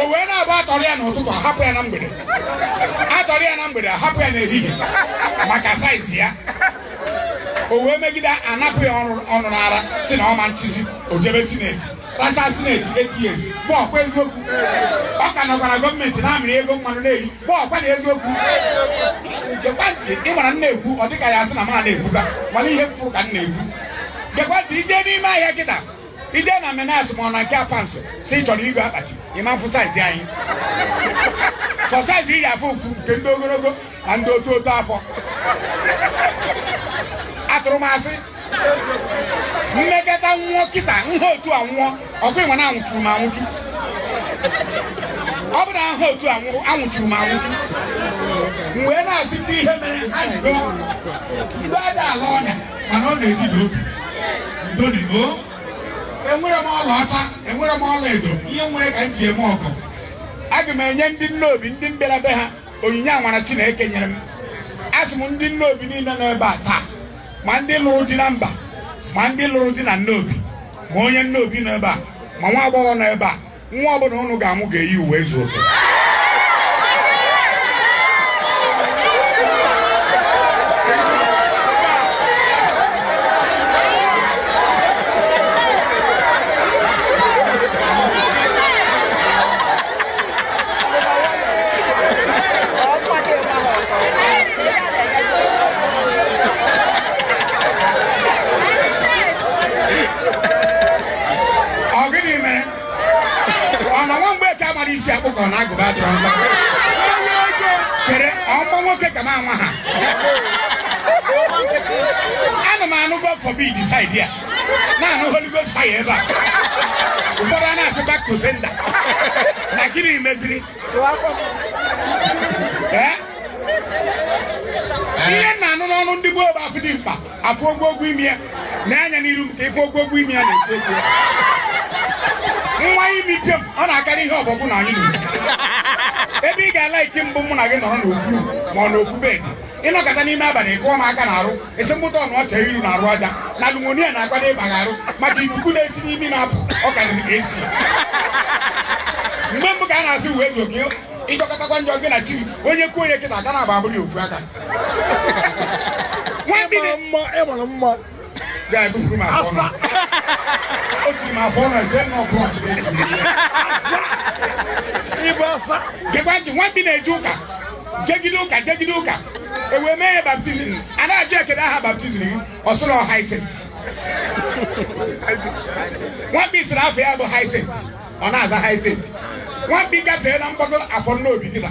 o wee na-abụ a tọrọ ya n'ụtụtụ a hapụ ya na mgbede a tọrọ ya na mgbede a hapụ ya n'ehihie maka saizi ya o wee megide a napụ ya ọnụ n'ara sị na ọ ma nchịzi o jebe sineti racha sineti eight years bụ ọkwa eziokwu ọ ka nọkwara gọọmenti na-amịrị ego mmanụ na-eri bụ ọkwa na eziokwu ị mara m na-ekwu ọ dịka ya asị na ma na-ekwuga mana ihe m fụrụ ka m na-ekwu gekwa ntị i je n'ime ahịa kịta i je na menas ma ọ na nke apansị sị ị chọrọ ịgo akpati ị ma mfụ saizi anyị sọ saizi ndị afọ ukwu nke ndị ogologo na ndị otu otu afọ atụrụ m asị m mekata nwụọ kịta m ha otu a nwụọ ọkwa ị ma na anwụchuru m anwụchu ọ bụrụ m ha otu a nwụrụ anwụchuru m anwụchu m wee na-asị ndị ihe mere ha jido ndị ada ala ọnya mana ọ na-esi n'obi ndo nụ o enwerọ m ọlaọcha enwerọ m ọla edo ihe m nwere ka m ji eme ọgọ aga m enye ndị nnobi ndị m bịara be ha onyinye amara chineke nyere m asị m ndị nnobi niile nọ ebe a taa ma ndị lụrụ di na mba ma ndị lụrụ di na nnobi ma onye nnobi nọ ebe a ma nwa agbọghọ nọ ebe a nwa ọbụla unu ga-amụ ga-eyi ụwaezuoke ọ gịnị mere ọ na nwa mgbeke amarọ isi akpụ ka ọ na agụba adịrọ nkọ chere ọmụ nwoke ka mụnwa ha ana m anụ god forbid side a na-anụ holy ghost fire ebe a ụfọdụ a na-asị back to sender na gịnị meziri Eh? ihe m na-anụ n'ọnụ ndị gboo bụ a fụ dimkpa a fụ ogwogwo imi ya nee anya n'iru ka ị fụ ogwogwo imi ya na-ekwu okwu nwa imi pịọm ọ na-akarị ihe ọbọgwụ na anyị na-ekwu ebe ị ga-ala ike m bụ mụ na gị nọrọ n'ofu ma ọ n'ofu bed ị nọkata n'ime abalị kụọ m aka n'arụ esemokwu ọnụ ọcha iru na arụ aja na pneumonia na-akwado ịba gị arụ maka ikuku na-esi n'imi na-apụ ọ karịrị ka esi mgbe mbụ ka a na-asị ụwaezuoke ị jọkatakwa njọ gị na chi onye kwuo onye kịta aka na-agba abụrụ ya ofu aka ịmara mma ịmara mma ga-ebupụrụ m afọ ọnụ o tiri m afọ ọnụ nke nọ brọch ịbụ asa gekwa ntị nwa mkpi na-eje ụka jegide ụka jegide ụka ewee mee ya baptizim a na-ajụ ya kele aha baptizim gị ọ sịrị ọ haisent nwamkpi sịrị afa ya bụ haisent ọ na-aza haisent nwamkpi gafee na mgbago afọ nna obi dịba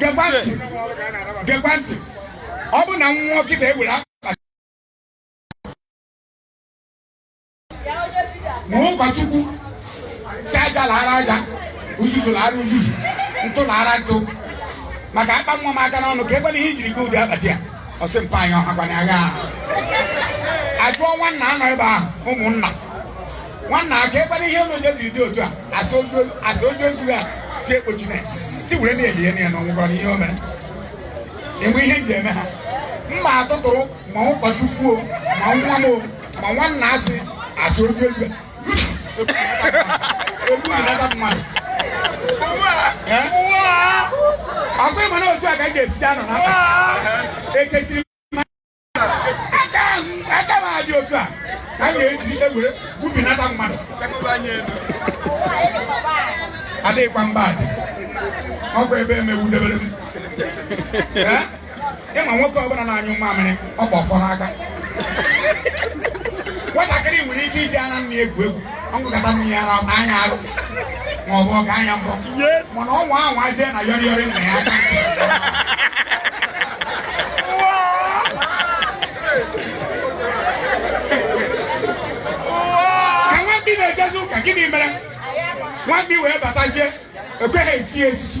gekwa ntị gekwa ntị ọ bụ na nwa nkịta ewere akpa ma ụkọchukwu sị aja laara aja uzuzu laara uzuzu ntụ laara ntụ maka akpa nwa m aka n'ọnụ ka ebe na ihe ijiri gị ụdị akpati ya ọ sị mpa anyị ọha gwana agha ajụọ nwanna anọ ebe ahụ ụmụnna nwanna aka ekwela ihe unu jiri dị otu a a sị onye ozu ya si ekpochi na si were na-elie ya na ọ nwụgoro na ihe o mere enwe ihe m ji eme ha mma atụtụrụ ma ụkọchukwu o ma nwa m o ma nwanna asị asị onye ozu ya egbu anata mmadụ ọ kwa ị ma na otu a ka m ga-esite anọ na mba ekechiri aka m adị otu a ka m ga-eji ewere gwubinata mmadụ adịghịkwa mba adị ọkwa ebe emewudebere m Ee? ị ma nwoke ọbụla na-anyụ mamịrị o bu ọfọ n'aka nwatakịrị nwere ike iji ara nne ya egwu egwu ọ ṅụkata nne ya ara taa ya arụ ma ọ bụ ọ gbaa ya mbọ mana ọnwa ahụ aje na yọrịyọrị nna ya aka ka nwa mkpi na-ejezi ụka gịnị mere nwa mkpi wee batazie ekweghị echi ya echichi